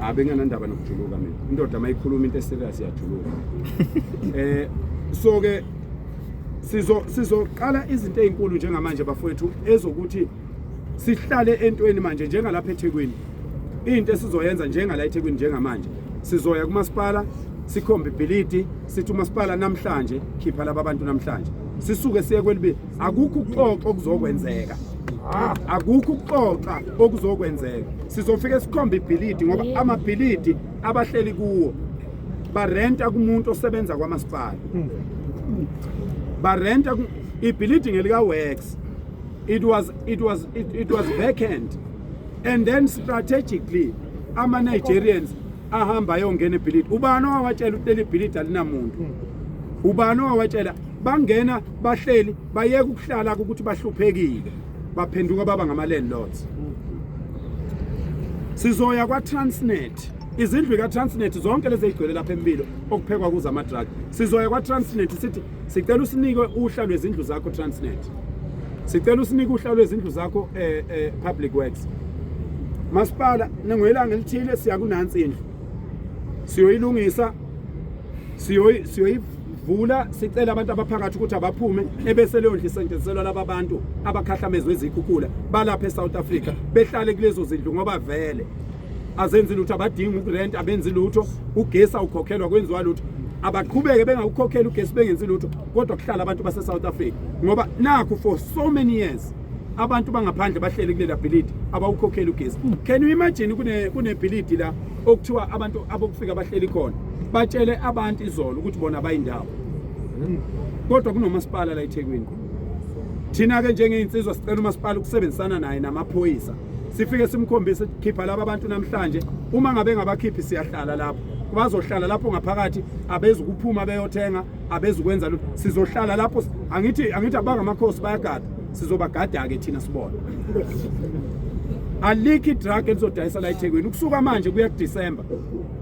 Abe nganandaba nokujuluka mina. Indoda mayikhuluma into eserious iyajuluka. Eh so ke sizo sizoqala izinto ezinkulu njengamanje bafowethu ezokuthi sihlale entweni manje njengalapha eThekwini. Into esizoyenza njengala eThekwini njengamanje. Sizoya kumasipala sikhombe ibhilidi sithi umasipala namhlanje khipha laba bantu namhlanje. Sisuke siye kwelibi akukho ukuxoxa okuzokwenzeka akukho ukuxoxa okuzokwenzeka sizofike sikhombe ibhilidi ngoba amabhilidi abahleli kuwo barenta kumuntu osebenza kwamasipala barenta ibhilidi ngelikawex it was it was it, it was vacant and then strategically ama-nigerians ahamba ayongena ebhilidi ubani owawatshela ukuthi leli bhilidi alinamuntu hmm. ubani owawatshela bangena bahleli bayeka ukuhlala ukuthi bahluphekile baphenduka baba ngama-landlords hmm. sizoya kwa-transnet izindlu ka-transnet zonke lezi eyigcwele lapha empilo okuphekwa kuzo ama-drug sizoya kwa-transnet sithi Sicela usinike uhla lwezindlu zakho Transnet. Sicela usinike uhla lwezindlu zakho eh, eh Public Works. Masipala ningwelanga elithile siya kunansi indlu. Siyoyilungisa siyoyi siyoyi vula sicela abantu abaphakathi ukuthi abaphume ebese leyo ndlu isetshenziselwa laba abantu abakhahlamezwe izikhukhula balapha eSouth Africa behlale kulezo zindlu ngoba vele azenzi lutho abadingi ukurent abenzi lutho ugesi awukhokhelwa kwenziwa lutho abaqhubeke bengawukhokheli ugesi bengenzi lutho kodwa kuhlala abantu base-south africa ngoba nakhu for so many years abantu bangaphandle bahleli kulela bhilidi abawukhokheli ugesi hmm. can you imagine kunebhilidi la okuthiwa abantu abokufika bahleli khona batshele abantu izolo ukuthi bona bayindawo hmm. kodwa kunomasipala la ethekwini thina-ke njengey'nsizwa sicela umasipala ukusebenzisana naye namaphoyisa sifike simkhombise khipha laba bantu namhlanje uma ngabe ngabakhiphi siyahlala lapho bazohlala lapho ngaphakathi abezi kuphuma beyothenga abezi kwenza lutho sizohlala lapho angithi angithi abangamakhosi bayagada sizobagada ke thina sibona alikhi drug elizodayisa la eThekwini ukusuka manje kuya kuDecember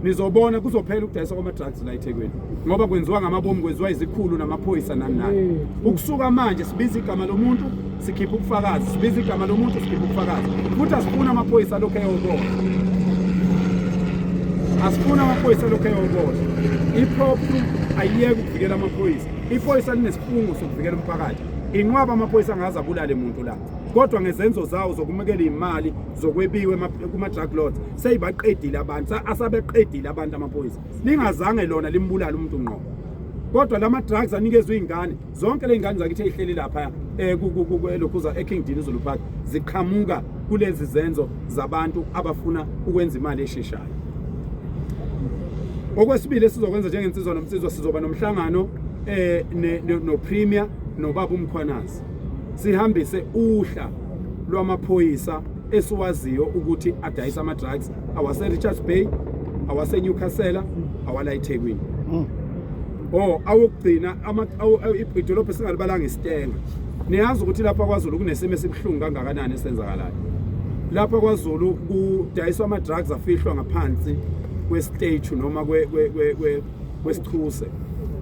nizobona kuzophela ukudayisa kwama-drugs la ethekwini ngoba kwenziwa ngamabomu kwenziwa izikhulu namaphoyisa nani nani mm. ukusuka manje sibiza igama lomuntu sikhipha ubufakazi sibiza igama lomuntu sikhipha ubufakazi futhi asifuni amaphoyisa alokhu eyobola asifuni amaphoyisa alokhu eyobola iphrophu ayiyeke ukuvikela amaphoyisa iphoyisa linesifungo sokuvikela umphakathi inqwaba amaphoyisa angaze abulale muntu la kodwa ngezenzo zawo zokumukela imali zokwebiwe kuma-drug lords seyibaqedile abantu asabeqedile abantu amaphoyisa lingazange lona limbulala umuntu ngqo kodwa lama drugs anikezwe izingane zonke lezingane zakithi ezihleli lapha eh, elokhuza eKing Dean Zulu Park ziqhamuka kulezi zenzo zabantu abafuna ukwenza imali esheshayo okwesibili esizokwenza njengensizwa nomsizwa sizoba nomhlangano eh no premier nobaba umkhwanazi sihambise uhla lwamaphoyisa esiwaziyo ukuthi adayisa ama-drugs awase-richards bay awasenyukhasela awala ethekwini mm. o oh, awokugcina idolobha esingalibalanga isitenga niyazi ukuthi lapha kwazulu kunesimo esibuhlungu kangakanani esenzakalayo lapha kwazulu kudayiswa ama-drugs afihlwa ngaphansi kwesiteju noma kwesichuse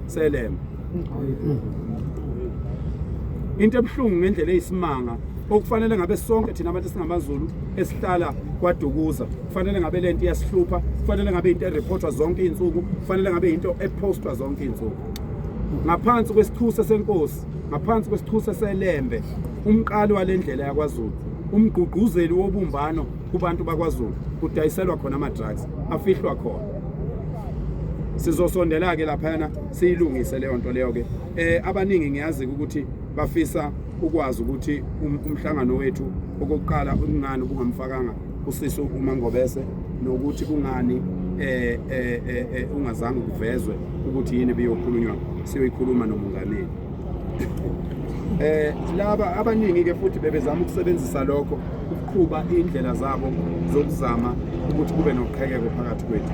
selema into ebuhlungu ngendlela eyisimanga okufanele ngabe sonke thina abantu singamaZulu esihlala kwaDukuza kufanele ngabe lento iyasihlupha kufanele ngabe into ereportwa zonke izinsuku kufanele ngabe into epostwa zonke izinsuku ngaphansi kwesithusa senkosi ngaphansi kwesithusa selembe umqali walendlela yakwaZulu umgqugquzeli wobumbano kubantu bakwaZulu kudayiselwa khona ama-drugs afihlwa khona sizosondela-ke laphayana siyilungise leyo nto leyo-ke um eh, abaningi ngiyazi-ke ukuthi bafisa ukwazi ukuthi um, umhlangano wethu okokuqala kungani ubungamfakanga usisi umangobese nokuthi kungani eh, eh, eh, eh ungazange kuvezwe ukuthi yini biyokhulunywa siyoyikhuluma nomungameli eh laba abaningi ke futhi bebezama ukusebenzisa lokho ukuqhuba indlela zabo zokuzama ukuthi kube noqhekeko phakathi kwethu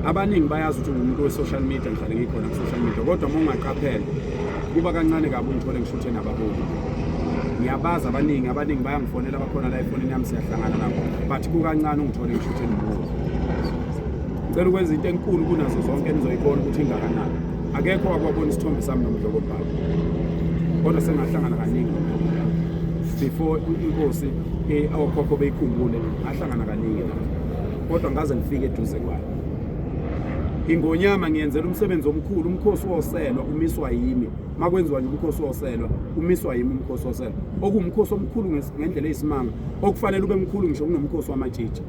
abaningi bayazi ukuthi ngumuntu we-social media ngihlale ngikhona ku-social media kodwa uma ungaqaphela kuba kancane kabi ungithole ngishuthe nabaholi ngiyabazi abaningi abaningi bayangifonela bakhona la efonini yami siyahlangana nabo but kukancane ungithole ngishuthe nomuzi ngicela ukwenza into enkulu kunazo zonke enizoyibona ukuthi ingakanani akekho wakwabona isithombe sami nomdlokobhala kodwa sengahlangana kaningi nomdlokobhala before inkosi eh, okhokho beyikhumbule ahlangana kaningi la kodwa ngaze ngifike eduze kwayo ingonyama ngiyenzela umsebenzi omkhulu umkhosi woselwa umiswa yimi makwenziwa nje umkhosi woselwa umiswa yimi umkhosi woselwa okuwumkhosi omkhulu ngendlela eyisimanga okufanele ube mkhulu ngisho kunomkhosi wamatshitshi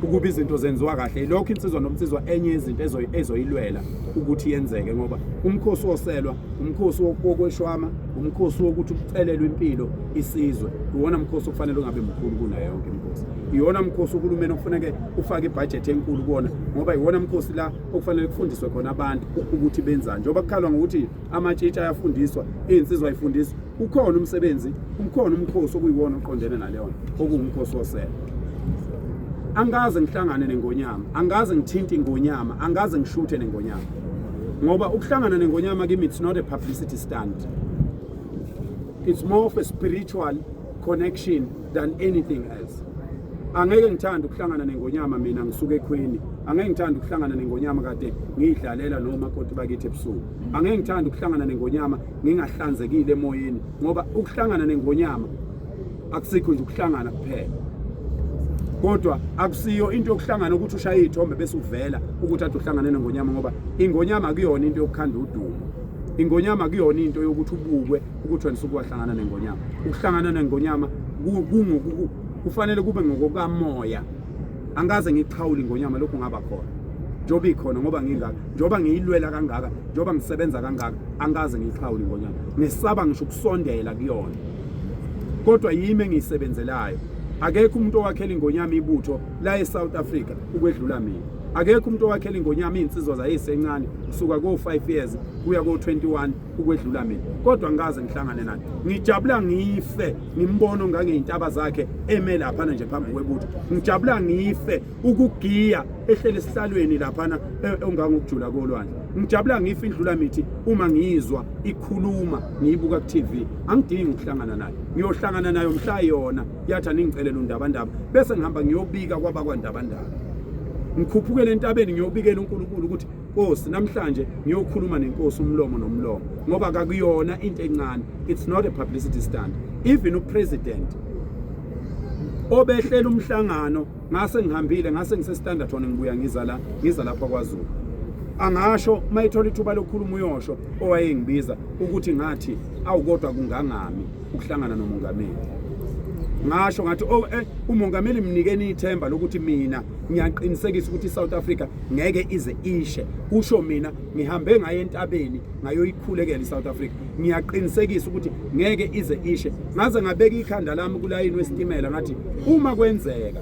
ukuba izinto zenziwa kahle yilokho insizwa nomnsizwa enye yezinto ezoyilwela ukuthi yenzeke ngoba umkhosi woselwa umkhosi wokweshwama umkhosi wokuthi kucelelwe impilo isizwe iwona mkhosi okufanele ungabe mkhulu kunayo yonke imkhosi iwona mkhosi uhulumeni okufaneke ufake ibhajethi enkulu kuwona ngoba iwona mkhosi la okufanele kufundiswe khona abantu ukuthi benzani njengoba kukhalwa ngokuthi amatshitshi ayafundiswa iy'nsizwa ayifundiswa ukhona umsebenzi umkhona umkhosi okuyiwona oqondene naleyo nto okuwumkhosi wosele angikaze ngihlangane nengonyama angikaze ngithinte ingonyama angikaze ngishuthe nengonyama ngoba ukuhlangana nengonyama kimi it's not a publicity stunt it's more of a spiritual connection than anything else angeke ngithanda ukuhlangana nengonyama mina ngisuke ekhweni angeke ngithanda ukuhlangana nengonyama kade ngiyidlalela noma koti bakithi ebusuku angeke ngithanda ukuhlangana nengonyama ngingahlanzekile emoyeni ngoba ukuhlangana nengonyama akusikho nje ukuhlangana kuphela kodwa akusiyo into yokuhlangana ukuthi ushaye ithombe bese uvela ukuthi athi uhlangane nengonyama ngoba ingonyama kuyona into yokukhanda udumo ingonyama kuyona into yokuthi ubukwe ukuthi wena usuke wahlangana nengonyama ukuhlangana nengonyama kufanele kube ngokokamoya angikaze ngikuxhawuli ngonyama lokhu ngaba khona njengoba ikhona ngoba ngingaka njengoba ngiyilwela kangaka njengoba ngisebenza kangaka angikaze ngiyixhawuli ngonyama ngisaba ngisho ukusondela kuyona kodwa yimi engiyisebenzelayo akekho umuntu owakhela ingonyama ibutho la eSouth Africa ukwedlula mina akekho umuntu owakhela ingonyama iy'nsizwa zayisencane kusuka ko-5 years kuya ko-21 ukwedlula mina kodwa ngikaze ngihlangane naye ngijabula ngife ngimbona ongangeyintaba zakhe eme laphana nje phambi kwebutho ngijabula ngife ukugiya ehlele esihlalweni laphana e, ongangokujula kolwandle ngijabula ngife indlula mithi uma ngiyizwa ikhuluma ngiyibuka ku-tv angidingi ukuhlangana nayo ngiyohlangana nayo mhla yona yathi aningicelela undabandaba bese ngihamba ngiyobika kwabakwandabandaba ngikhuphukele entabeni ngiyobikela unkulunkulu ukuthi Nkosi namhlanje ngiyokhuluma nenkosi umlomo nomlomo ngoba kakuyona into encane it's not a publicity stunt even upresident obehlela umhlangano ngase ngihambile ngase ngise Standerton ngibuya ngiza la ngiza lapha kwaZulu angasho mayithola ithuba lokukhuluma uyosho owayengibiza ukuthi ngathi awukodwa kungangami ukuhlangana nomongameli ngasho ngathi oh eh umongameli mnikeni ithemba lokuthi mina ngiyaqinisekisa ukuthi iSouth Africa ngeke ize ishe usho mina ngihambe ngaye entabeni ngayoyikhulekela iSouth Africa ngiyaqinisekisa ukuthi ngeke ize ishe ngaze ngabeka ikhanda lami kulayini wesitimela ngathi uma kwenzeka